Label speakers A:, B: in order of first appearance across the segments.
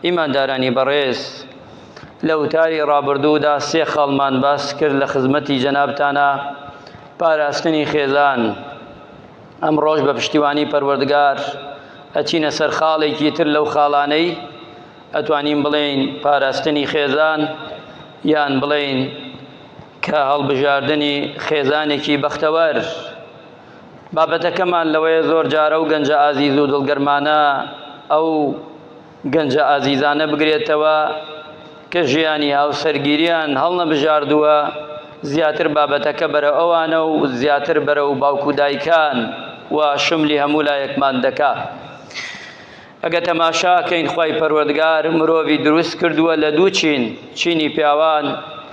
A: ئیماندارانی بەڕێز لە وتاری ڕابردوودا سێ خاڵمان باس کرد لە خزمەتی جەنابتانە پاراستنی خێزان ئەم ڕۆژ بە پشتیوانی پەروەردگار ئەچینە سەر خاڵێکی تر لەو خاڵانەی ئەتوانین بڵێین پاراستنی خێزان یان بڵێین کە هەڵبژاردنی خێزانێکی بەختەوەر بابەتەکەمان لەوەیە زۆر جارە و گەنجە ئازیز و دڵگەرمانە ئەو گەنجە ئازیزانە بگرێتەوە کە ژیانی هاوسەرگیریان هەڵنەبژاردووە زیاتر بابەتەکە بەرە ئەوانە و زیاتر بەرە و باوکو دایکان و شملی هەموو لایەکمان دەکا ئەگەر تەماشا کەین خوای پەروەردگار مرۆڤی دروست کردووە لە دوو چین، چینی پیاوان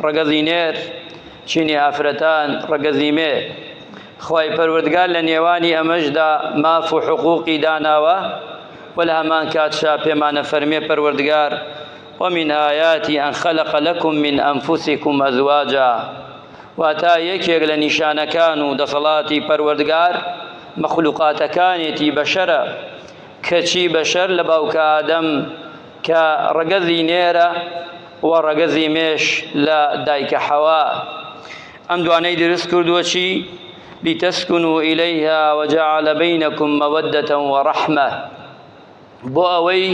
A: ڕەگەزی نێر، چینی ئافرەتان ڕەگەزی مێ. خوای پەروەردگار لە نێوانی ئەمەشدا ماف و حقوقی داناوە و لە هەمانکاتشا پێمان ئەفەرمێ پەروەردگار ومن آیاتی ان خلق لکم من انفسکم ازواجا واتا یەکێک لە نیشانەکان و دەسەڵاتی پەروەردگار مەخلوقاتەکانێتی بەشەرە کەچی بەشەر لە باوکە ئادەم کە ڕەگەزی نێرە و ڕەگەزی مێش لە دایکە حەوا ئەم دوانەی دروست کردووە چی لتسکنو الیها وجعل بینکم مودة ورحمە بۆ ئەوەی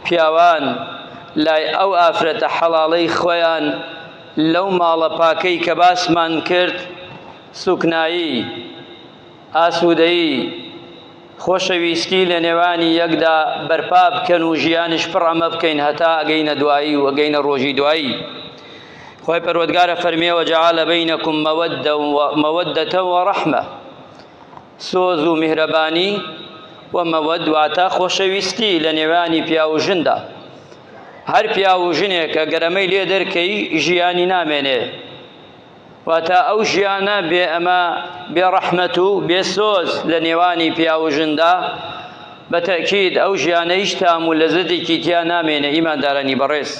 A: پیاوان لای ئەو ئافرەتە حەڵاڵەی خۆیان لەو ماڵە پاکەی کە باسمان کرد سوکنایی ئاسوودەیی، خۆشەویستی لە نێوانی یەکدا بەرپا بکەن و ژیانیش پڕ ئەمە بکەین هەتا ئەگەینە دوایی و ئەگەینە ڕۆژی دوایی. خوای پەروەردگارە فەرمیێ وەجعل بینکم مەوەدەتە و ڕەحمە سۆز و میهرەبانی و مەوەد واتە خۆشەویستی لە نێوانی پیا و ژندا هەر پیا و ژنێکە گەرەمەی لێ دەرکەی ژیانی نامێنێ واتە ئەو ژیانە بێ ئەمە بێ ڕەحمەت و بێ سۆز لە نێوانی پیاو و ژندا بە تەکید ئەو ژیانە هیچ تام و لەزەتێکی تیا نامێنە ئیماندارانی بەڕێز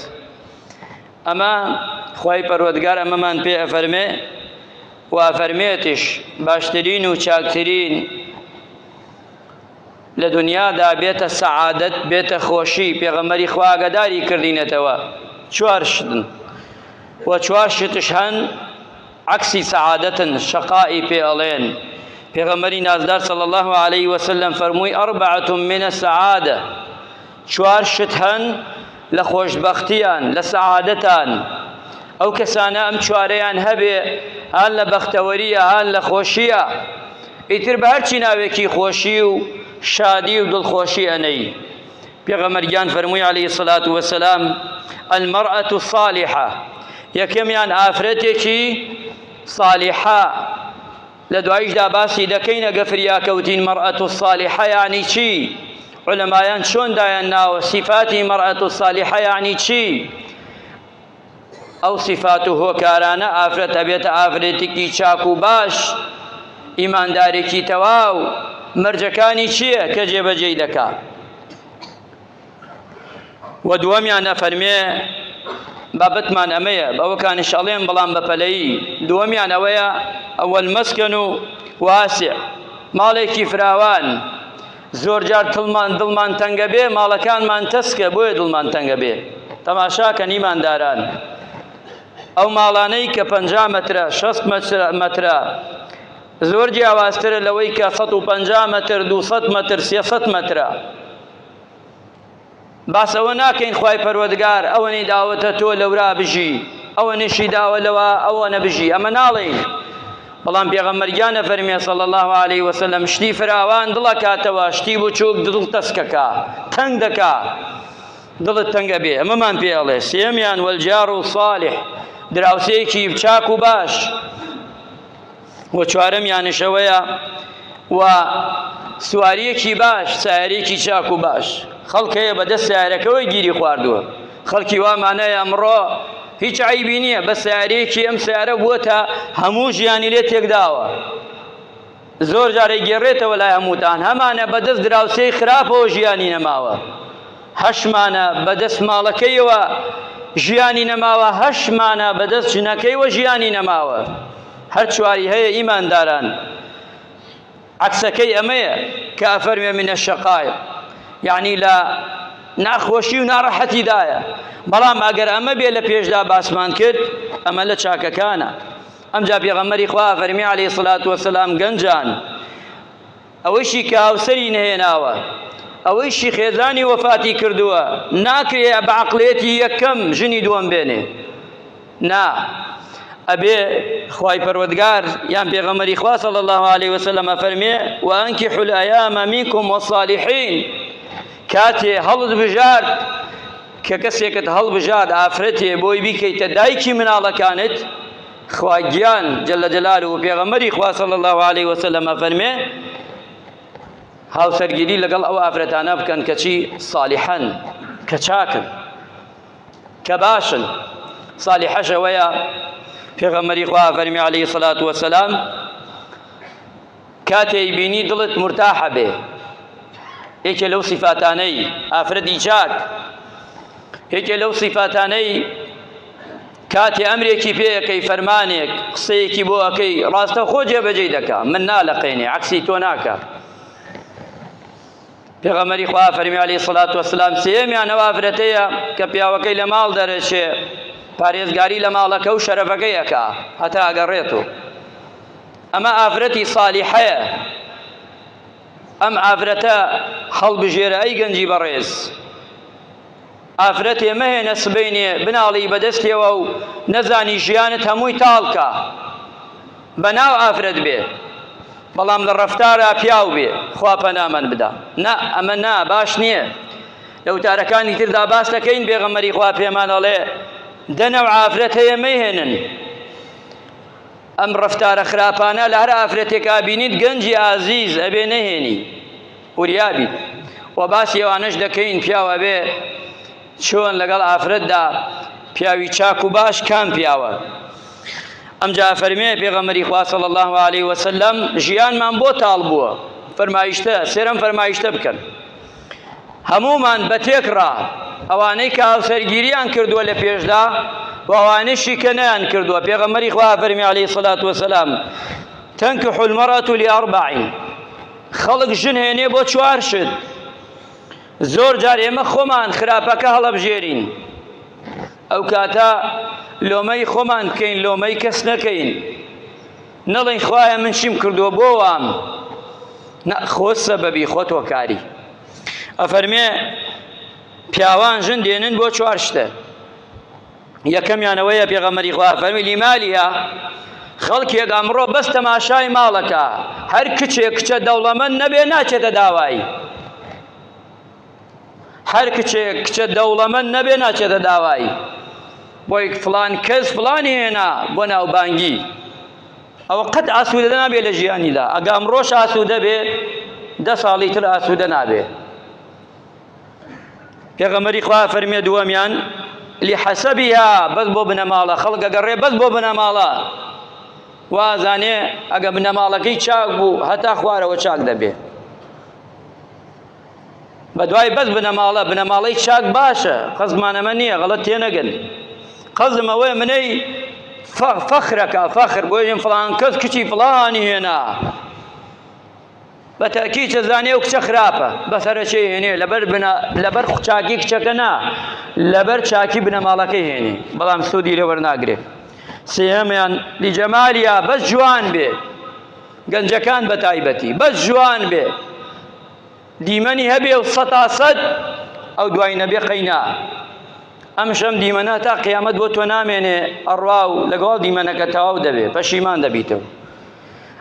A: ئەمە خی پەروەگار ئەمەمان پێ ئەفەرمێ و ئەفەرمێتش باشترین و چاکترین لە دونیادا بێتە سەعادەت بێتە خۆشی پێغەمبەری خوا ئاگاداری کردینەتەوە چوار شتن و چوار شتش هەن عکسی سەعادەتن شەقائی پێ ئەڵێن پێغەمبەری نازدار صلی الله علیه وسلم فەرمووی ئەربعەتم من السعادە چوار شت هەن لە خۆشبەختیان، لە سەعادەتان، ئەو کەسانە ئەم چوارەیان هەبێ هان لە بەختەوەرییە هان لە خۆشییە، ئیتر بە هەرچی ناوێکی خۆشی و شادی و دڵخۆشی ئەنێی. پێغەمبەر گیان فەرمووی علیە الصلوە و السلام، المرأة الصالحە، یەکەمیان ئافرەتێکی صالیحە، لە دوایشدا باسی دەکەین ئەگە فریاکەوتین مەرئە الصالحە یانی چی؟ علەمایان چۆن دایان ناوە سیفاتی مەرئە الصالحە یانی چی؟ ئەو سیفات و هۆکارانە ئافرەت ئەبێتە ئافرەتێکی چاک و باش ئیماندارێکی تەواو مەرجەکانی چییە کە جێبەجێی دەکا؟ و دووەمیان ئەفەرمێ بابەتمان ئەمەیە بەوەکانش ئەڵێم بەڵام بەپەلەی دووەمیان ئەوەیە ئەوەل مەسکەن و واسع ماڵێکی فراوان زۆر جار تڵمان دڵمان تەنگە بێ ماڵەکانمان تەسکە بۆیە دڵمان تەنگە بێ تەماشاکە نیمانداران ئەو ماڵانەی کە پ مەترە 6 مەترە زۆر جیاوازترە لەوەی کە 150 متر 200 متر 300 مترە باس ئەوە ناکەین خوای پەروەردگار ئەوەنەی داوەتە تۆ لەورا بژی ئەوە نشی داوە لەوە ئەوە نەبژی ئەمە ناڵێین بەڵام پێغەمەرگیان نەفەرمێ سەڵ الله عليه وسلم شتی فراوان دڵە کاتەوە شتی بچووک دڵ تەسکەکە تەنگ دەکا دڵت تەنگە بێ ئەمەمان پێ ئەڵێ سێمیان وەلجار و ساڵح دراوسێکی چاک و باش و چوارەمیانش ئەوەیە و سواریەکی باش سیارێکی چاک و باش خەڵکەیە بەدەست سیارەکەەوەی گیری خواردووە خەڵکی وامانەیە ئەمڕۆ هیچ عیبی نییە بە سیارێکی ئەم سیارە بووە تا هەموو ژیانی لێ تێکداوە زۆر جارێک گێڕێتەوە لای هەمووتان هەمانە بەدەست دراوسێی خراپەوە ژیانی نەماوە هەشمانە بەدەست ماڵەکەیەوە ژیانی نەماوە هەشمانە بەدەست ژنەکەیوە ژیانی نەماوە هەر چواری هەیە ئیمانداران عەکسەکەی ئەمەیە کە ئەفەرمێ من الشقای یعنی لە ناخۆشی و ناڕەحەتیدایە بەڵام ئەگەر ئەمە بێ لە پێشدا باسمان کرد ئەمە لە چاکەکانە ئەمجا پێغەمەری خوا فەرمی عليه سلات وسلام گەنجان ئەوەیشی کە هاوسەری نەهێناوە، ئەوەیشی خێزانی وەفاتی کردووە، ناکرێ بە عەقڵێتی یەکەم ژنی دووەم بێنێ، نا ئەبێ خوای پەروەردگار یان پێغەمبەری خوا صلی اللە علیە وسلم ئەفەرمێ وانکحوا الایام منکم والصالحین کاتێ هەڵت بژارد کە کەسێکت هەڵبژارد ئافرەتێ بۆی بیکەیتە دایکی مناڵەکانت خوا گیان جل جلاله و پێغەمبەری خوا صلی الله علیه و سلم ئەفەرمێ هاوسەرگیری لەگەڵ ئەو ئافرەتانە بکەن کەچی صالحن کە چاکن کە باشن صالحەشەوەیە پێغەمبەری خوا ئەفەرمی علیه الصلاة والسلام کاتێ ئەیبینی دڵت مورتاح ئەبێ. یەکێ لەو سیفاتانەی ئافرەتی چاک، یەکێ لەو سیفاتانەی کاتێ ئەمرێکی پێ ئەکەی فەرمانێک قسەیەکی بۆ ئەکەی ڕاستەخۆ جێبەجێی دەکا، من نالەقێنێ عەکسی تۆ ناکا. پێغەمبەری خوا فەرمی عەلەیهی سەڵات وەسەلام سێیەمیان ئەو ئافرەتەیە کە پیاوەکەی لە ماڵ دەرەچێ پارێزگاری لە ماڵەکە و شەرەفەکەی ئەکا هەتا ئەگەڕێت و ئەمە ئافرەتی سالیحەیە ئەم ئافرەتە هەڵبژێرە ئەی گەنجی بەڕێز ئافرەتێ مەهێنە سبینێ بناڵی بەدەستێەوە و نەزانی ژیانت هەمووی تاڵکە بە ناو ئافرەت بێ بەڵام لە ڕەفتارا پیاو بێ خوا پەنامان بدا نا ئەمە نا باش نییە لە وتارەکانی تردا باس دەکەین بێغەمەری خوا پێمان ئەڵێ دەنە و ئافرەت هەیە مەیهێنن ئەم ڕەفتارە خراپانە لە هەر ئافرەتێکا بینیت گەنجی ئازیز ئەبێ نەهێنی وریابی و باسی ئەوانەش دەکەین پیاوە بێ چۆن لەگەڵ ئافرەتدا پیاوی چاک و باش کام پیاوە ئەمجا فەرمێ پێغەمەری خوا صلی الله علیه و سلم ژیانمان بۆ تاڵ بووە فەرمایشتە سێرم فەرمایشتە بکەن هەمومان بە تێکڕا ئەوانەی کە هاوسەرگیریان کردووە لە پێشدا و ئەوانشی کە نیان کردووە پێغەمەری خوا فەرمی علی سلات وسلام تەنک حلمەڕەت و لێڕبعین خەڵک ژن هێنێ بۆ چوار شت زۆر جار ئێمە خۆمان خراپەکە هەڵەبژێرین، ئەو کاتە لۆمەی خۆمان بکەین، لۆمەی کەس نەکەین، نەڵێین خوایە من چیم کردووە بۆ وام، نە خۆ سەبەبی خۆت هۆکاری. ئەفەرمێ پیاوان ژن دێنن بۆ چوار شتە، یەکەمیان ئەوەیە پێغەمبەری خوا فەرمی لیمالیها خەڵکێک ئەمڕۆ بەس تەماشای ماڵەکە هەر کچێک کچە دەوڵەمەند نەبێ ناچێتە داوایی هەر کچێک کچە دەوڵەمەند نەبێ ناچێتە داوایی بۆی فلان کەس فلانی هێنا بۆ ناوبانگی ئەوە قەت ئاسوودە نابێت لە ژیانیدا ئەگە ئەمڕۆش ئاسوودە بێ دە ساڵی تر ئاسوودە نابێت پێغەمەری خوا فەرمێ دووەمیان لحەسەبیها بەس بۆ بنەماڵە خەڵکە گەڕێ بەس بۆ بنەماڵە وازانێ ئەگە بنەماڵەکەی چاک بوو هەتا خوارەوە چاک دەبێ بەدوای بەس بنەماڵە بنەماڵەی چاک باشە قەزمانەمە نییە غەڵەت تێنەگەن قەزم ئەوەیە منەی فەخرەکە فەخر بۆ ژێن فڵان کەس کچی فڵانی هێنا بە تەئکید ئەزانێ ئەو کچە خراپە بە سەرەکێ هێنێ لەبەر بنا لەبەر چاکی کچەکە نا لەبەر چاکی بنەماڵەکەی هێنێ بەڵام سوودی لێ وەرناگرێ سێهەمیان لیجەمالیا بەس جوان بێ گەنجەکان بە تایبەتی بەس جوان بێ دیمەنی هەبێ و سەتا سەد ئەو دوای نەبێ قەینا ئەم شەم دیمەنە تا قیامەت بۆ تۆ نامێنێ ئەڕوا و لەگەڵ دیمەنەکە تەواو دەبێ پەشیمان دەبیتەوە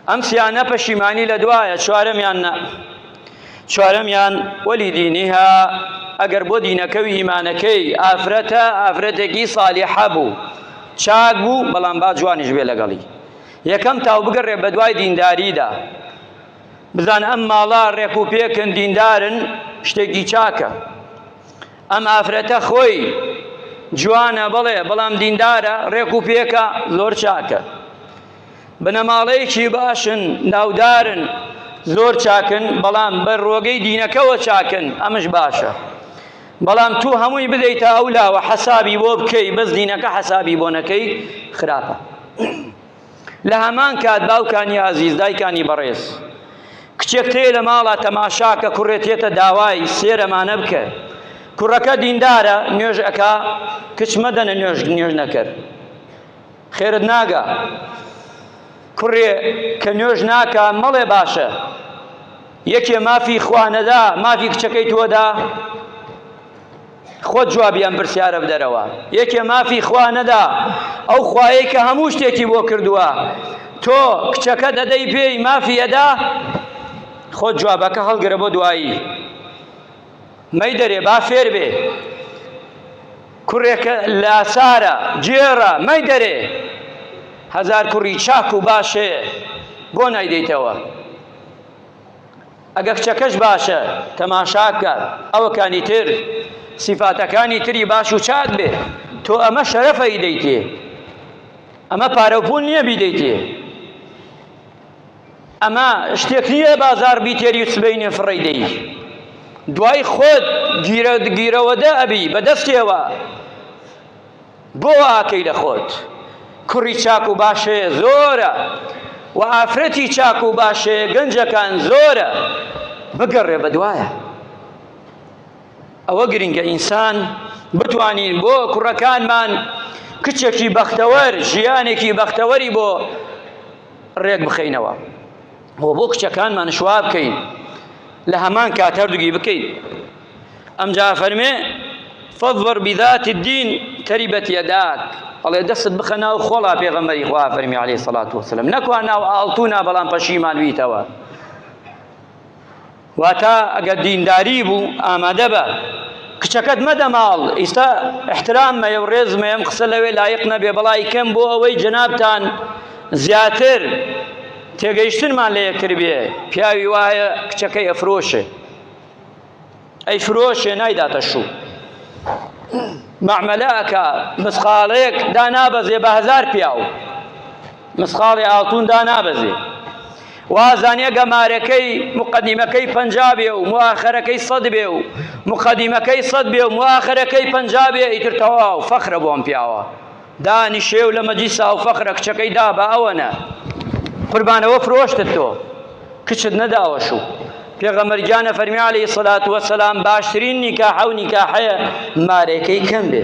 A: ئەم سیانە پەشیمانی لە دوایە چوارەمیان نە چوارەمیان وەلی دینیها ئەگەر بۆ دینەکە و ئیمانەکەی ئافرەتە ئافرەتێکی سالیحە بوو چاک بوو بەڵام با جوانیش بێ لەگەڵی یەکەم تاو بگەڕێ بە دوای دینداریدا بزان ئەم ماڵە ڕێک و پێکن دیندارن شتێکی چاکە ئەم ئافرەتە خۆی جوانە بڵێ بەڵام دیندارە ڕێک و پێکە زۆر چاکە بنەماڵەیەکی باشن، ناودارن، زۆر چاکن، بەڵام بە رۆگەی دینەکەوە چاکن، ئەمش باشە. بەڵام تو هەمووی بدەیتە ئەو لاوە حەسابی بۆ بکەی بەس دینەکە حەسابی بۆ نەکەی خراپە. لە هەمان کات باوکانی ئازیز، دایکانی بەڕێز، کچێک تێیە لە ماڵا تەماشا کە کوڕێ تێتە داوای سێر ئەمانە بکە. کوڕەکە دیندارە، نوێژ ئەکا، کچ مەدەنە نوێژ نوێژ نەکەر. خێرت ناگا کوڕێ کە نوێژ ناکا مەڵێ باشە یەکێ مافی خوانەدا مافی کچەکەی تۆدا خۆ جوابیان پرسیارە بدەرەوە یەکێ مافی خوا نەدا ئەو خوایە کە هەموو شتێکی بۆ کردووە تۆ کچەکە دەدەی پێی مافی ئەدا خۆ جوابەکە هەڵگرە بۆ دوایی مەی دەرێ با فێر بێ کوڕێکە لاچارە، گێڕە، مەیدەرێ! هەزار کوڕی چاک و باش هەیە، بۆ نایدەیتەوە؟ ئەگە کچەکەش باشە، تەماشا بکە، ئەوەکانی تر، سیفاتەکانی تری باش و چاک بێ، تۆ ئەمە شەرەفە ئیدەیتێ، ئەمە پارە و پوول نییە بیدەیتێ. ئەمە شتێک نییە بازار بیتێری و سبەینێ فڕەی دەی دوای خۆت گیرە گیرەوەدە ئەبی بەدەستێوە بۆ ئاکەی لە خۆت کوڕی چاک و باشێ زۆرە و ئافرەتی چاک و باشێ گەنجەکان زۆرە بگەڕێ بەدوایە ئەوە گرنگە ئینسان بتوانین بۆ کوڕەکانمان کچێکی بەختەوەر ژیانێکی بەختەوەری بۆ ڕێک بخەینەوە بۆ بۆ کچەکانمان شوا بکەین لە هەمان کات هەردووگی بکەین ئەمجا فەرمێ فەضبەر بذات الدین تەریبەت یەداک ئەڵێ دەستت بخە ناو خۆڵا پێغەمبەری خوا فەرمی عەلەیهی سەڵات وسلم نەکوا ناو ئاڵتونا بەڵام پەشیمان ویتەوە واتا ئەگەر دینداری بوو ئامادە بە کچەکەت مەدە ماڵ ئیستا احترام مەیە و ڕێز مەیەم قسە لەوێ لایق نەبێ بەڵای کەم بۆ ئەوەی جەنابتان زیاتر تێگەیشتنمان لە یەکتر بێ پیاوی وایە کچەکەی ئەفرۆشێ ئەی فرۆشێ نایداتە شوو مەعمەلەکە مسقاڵەیەک دانابەزێ بە هزار پیاو مسقاڵی ئاڵتوون دانابەزێ. وازانێ گە مارەکەی مقدیمەکەی پەنجا بێ و موآخەرەکەی سەد بێ و مقدیمەکەی سەد بێ و موآخەرەکەی پەنجا بێ ئیتر تەواو فەخرە بۆ ئەم پیاوە دانیشێ و لە مەجلیسا و فەخرە کچەکەی دا بە ئەوەنە قوربانەوە فرۆشتت تۆ کچت نەداوە شو پێغەمبەر گیانە فەرمی عەلەیهی سەلات وەسەلام باشترین نیکاحە و نیکاحەیە مارەکەی کەم بێ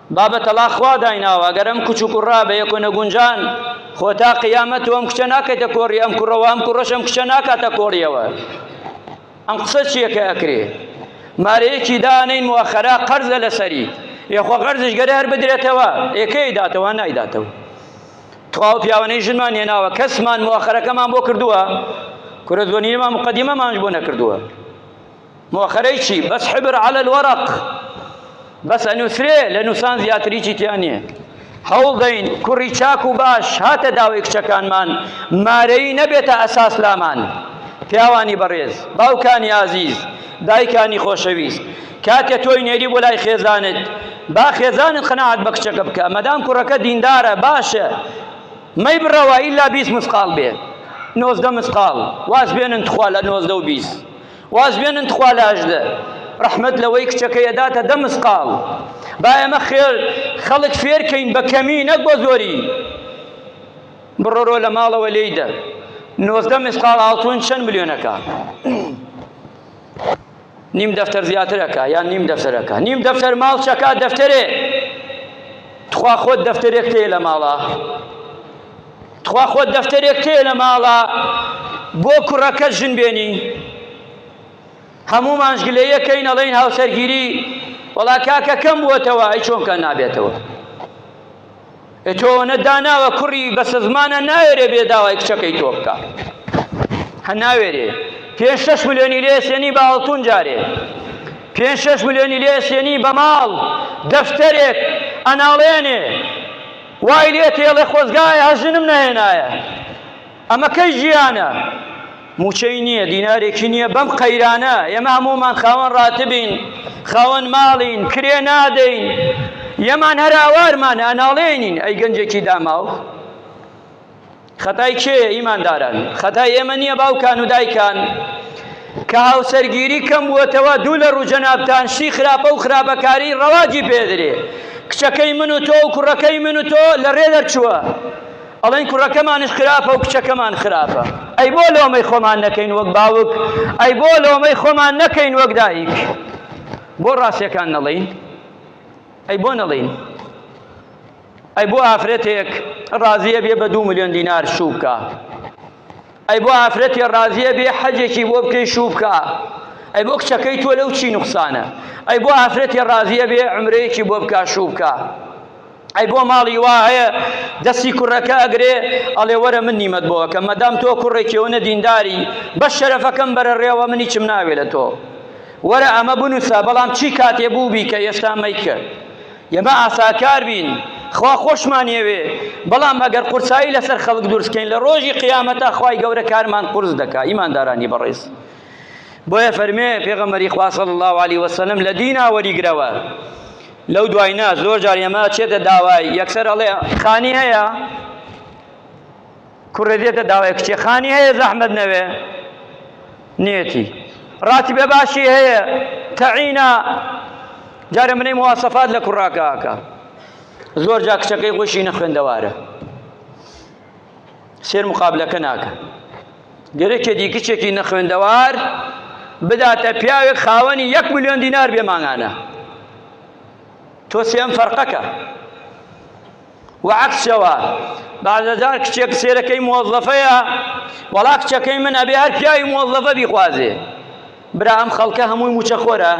A: بابە تەڵاق خوا دایناوە ئەگەر ئەم کچ و کوڕە بە یەکۆ نەگونجان خۆ تا قیامەت تۆ ئەم کچە ناکەیتە کۆڕی ئەم کوڕەوە ئەم کوڕەش ئەم کچە ناکاتە کۆڕیەوە ئەم قسە چییە کە ئەکرێ مارەیەکی دانین موخەرا قەرزە لەسەری یخوا قەرزش گەرە هەر بدرێتەوە ئێکەی داتەوە نایداتەوە تواو پیاوانەی ژنمان هێناوە کەسمان موخەرەکەمان بۆ کردووە کورە زۆنیمان مقدمەمانش بۆ نەکردووە موخەرەی چی بەس حبر علی الورق بەس ئەنووسرێ لە نووسان زیاتریی تیا نییە هەوڵ دەین کوڕی چاک و باش هاتە داوی کچەکانمان مارەی نەبێتە ئەساس لامان پیاوانی بەڕێز باوکانی ئازیز دایکانی خۆشەویست کاتێ تۆی نێری بۆ لای خێزانت با خێزانت قەناعەت بە کچەکە بکە مەدام کوڕەکە دیندارە باشە مەی بڕەوە ئیلا بیست مسقاڵ بێ نۆزدە مسقاڵ واز بێنن تخوا لە نۆزدە و بیست واز بێنن تخوا لاژدە ڕەحمەت لەوەی کچەکەی ئەداتە دە مسقاڵ با ئێمە خێر خەڵک فێرکەین بە کەمی نەک بە زۆری بڕۆرۆ لە ماڵەوە لێیدە نۆزدە مسقاڵ ئاڵتون چەند ملیۆنەکە نیم دەفتەر زیاترەکە یان نیم دەفتەرەکە نیم دەفتەر ماڵ چەکە دەفتەرێ تخوا خۆت دەفتەرێک تێ لە ماڵە تخوا خۆت دەفتەرێک تێ لە ماڵا بۆ کوڕەکە ژن بێنی هەموو مانشگلە یەکەین ئەڵین هاوسەرگیری وەڵا کاکە کەم بووەتەوە ئەی چۆنکە نابێتەوە تۆنە داناوە کوڕی بەسە زمانە ناوێرێ بێ داوای کچەکەی تۆ بکە هە ناوێرێ پێ شش ملیۆنی لێسێنی بە هەڵتون جارێ پێ شش ملیۆنی لێسێنی بە ماڵ دەفتەرێک ئەناڵێنێ وای لێ تێڵێ خۆزگایە هەر ژنم نەهێنایە ئەمە کەی ژیانە موچەی نییە دینارێکی نییە بەم قەیرانە ئێمە هەموومان خاوەن ڕاتبین خاوەن ماڵین کرێ نادەین یەمان هەر ئاوارمان ئەناڵێنین ئەی گەنجێکی داماو خەتای کێیە ئیمانداران؟ خەتای ئێمە نییە باوکان و دایکان کە هاوسەرگیری کەم بووەتەوە دوو لە ڕووجەنابتان شتی خراپە و خراپەکاری ڕەواجی پێدرێ کچەکەی من و تۆ و کوڕەکەی من و تۆ لە ڕێ دەرچووە ئەڵێن کوڕەکەمانش خراپە و کچەکەمان خراپە ئەی بۆ لۆمەی خۆمان نەکەین وەک باوک ئەی بۆ لۆمەی خۆمان نەکەین وەک دایک بۆ ڕاستەکان نەڵین ئەی بۆ نەڵین ئەی بۆ ئافرەتێک ڕازیە بێ بە دوو ملیۆن دینار شوو بکە ئەی بۆ ئافرەتێ ڕازیە بێ حەجێکی بۆ بکەی شوو بکە ئەی بۆ کچەکەی تۆ لەو چی نوقسانە ئەی بۆ ئافرەتێ ڕازیە بێ عمرەیەکی بۆ بکە شوو بکە ئەی بۆ ماڵی وا هەیە دەستی کوڕەکە ئەگرێ ئەڵێ وەرە من نیمەت بۆەکەم مەدام تۆ کوڕێکیەوەە دینداری بە شەرەفەکەم بەرە ڕێوە منی چم ناوێ لە تۆ وەرە ئەمە بنووسە بەڵام چی کاتێ بوو بی کە ئێستا مەیکە ئێمە ئاساکار بین، خوا خۆشمان یەوێ، بەڵام ئەگەر قورسایی لەسەر خەڵک دروست بکەین، لە ڕۆژی قیامەتا خوای گەورە کارمان قورس دەکا. ئیماندارانی بەڕێز، بۆیە فەرمێ پێغەمبەری خوا صلی اللە علیە وسلم لە دینا وەریگرەوە، لەو دوای نا، زۆر جار ئێمە ئەچێتە داوای، یەکسەر ئەڵێ خانی هەیە؟ کوڕێ دێتە داوای کچێ خانی هەیە زەحمەت نەوێ نێتی ڕاتیبە باشی هەیە تەعینا جارە منەی مواسەفات لە کوڕاکەکە زۆر جا کچەکەی خۆشی نەخوێندەوارە سێر مقابلەکە ناکە گەرەکێ دی کچێکی نەخوێندەوار بداتە پیاوێک خاوەنی یەک میلیۆن دینار بێ مانگانە تۆ سێم فەرقەکە وە عەکسەوە بازەجار کچێ کچێرەکەی مۆزەفەیە وەڵا کچەکەی من ئەبێ هەر پیاوی مۆزەفە بیخوازێ برا ئەم خەڵکە هەمووی موچە خۆرە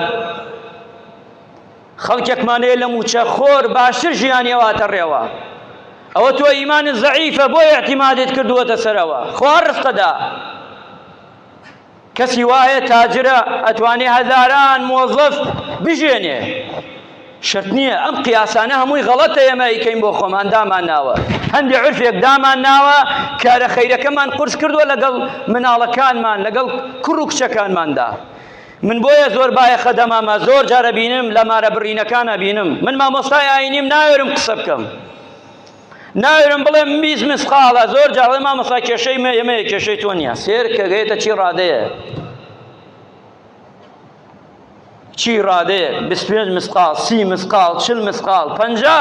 A: خەڵکێکمانەیە لە موچە خۆر باشتر ژیانی ئەواتە ڕێوە ئەوە تۆ ئیمانی زەعیفە بۆ اعتیمادت کردووەتە سەرەوە خوا ڕستەدا کەسی وایە تاجرە ئەتوانێ هەزاران مۆزەف بژێنێ شەرت نییە ئەم قیاسانە هەمووی غەڵەتە ئێمە ئیکەین بۆ خۆمان دامان ناوە هەندێک عرفێک دامان ناوە کارە خەیرەکەمان قرس کردووە لەگەڵ مناڵەکانمان لەگەڵ کوڕ و کچەکانماندا من بۆیە زۆر باە خەدەمامە زۆر جارە بینم لە مارە بڕینەکانە بینم من مامۆستای ئاینیم ناوێرم قسە بکەم ناوێرم بڵێم بیست مسقاڵە زۆر جار ئەڵێ مامۆستا کێشەی مە ئێمەیە کێشەی تۆ نییە سێر کە گەێتە چی ڕادەیە چی ڕادەیە بیست پێنج مسقاڵ سی مسقاڵ چل مسقاڵ پەنجا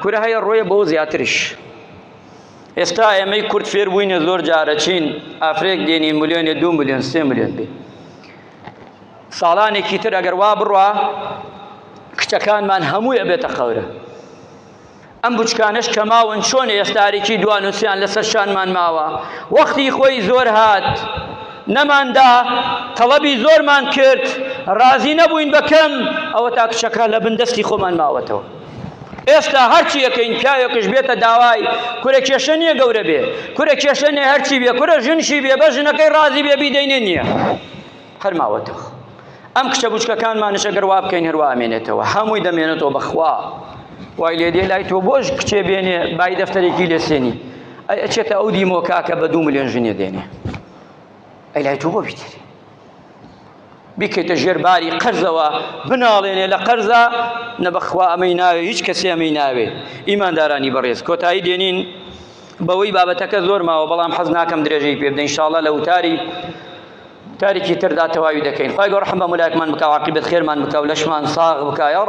A: کورە هەیە ڕۆیە بۆ زیاتریش ئێستا ئێمەی کورد فێر بووینە زۆر جارە چین ئافرێک دێنی ملیۆنێ دو ملیۆن سێ ملیۆن بێ ساڵانێکی تر ئەگەر وا بڕە کچەکانمان هەمووی ئەبێتە خەورە ئەم بچکانەش کە ماون چۆن ئێستارێکی دوانوسیان لەسەر شانمان ماوە وەختی خۆی زۆر هات نەماندا تەڵەبی زۆرمان کرد ڕازی نەبووین بەکەم ئەوە تا کچەکە لە بندەستی خۆمان ماوەتەوە ئێستا هەرچی یەکەین پیاوێکش بێتە داوای کورە کێشە نییە گەورە بێ کورە کێشە نیە هەرچی بێ کورە ژنشی بێ بە ژنەکەی ڕازی بێ بیدەینێ نییە هەر ماوەتەوە ئەم کچە بچکەکانمانش ئەگەر وا بکەین هەروە ئەمێنێتەوە هەمووی دەمێنێتەوە بەخوا وای لێ دێ لای تۆ بۆش کچێ بێنێ بای دەفتەرێکی لێ سێنی ئەی ئەچێتە ئەو دیمۆ کاکە بە دوو ملیۆن ژنێ دێنێ ئەی لای تۆ بۆ بیتێنێ بکەیتە ژێر باری قەرزەوە بناڵێنێ لە قەرزە نەبەخوا ئەمەی ناوێ هیچ کەسی ئەمەی ناوێ ئیماندارانی بەڕێز کۆتایی دێنین بەوەی بابەتەکە زۆر ماوە بەڵام حەز ناکەم درێژەی پێ بدەین شاڵە لە وتاری کارێکی تردا تەواوی دەکەین خوای گەورە ڕەحم بە ملایەکمان بکا و عاقیبەت خێرمان بکا و لەشمان ساغ بکا یاڕەبی.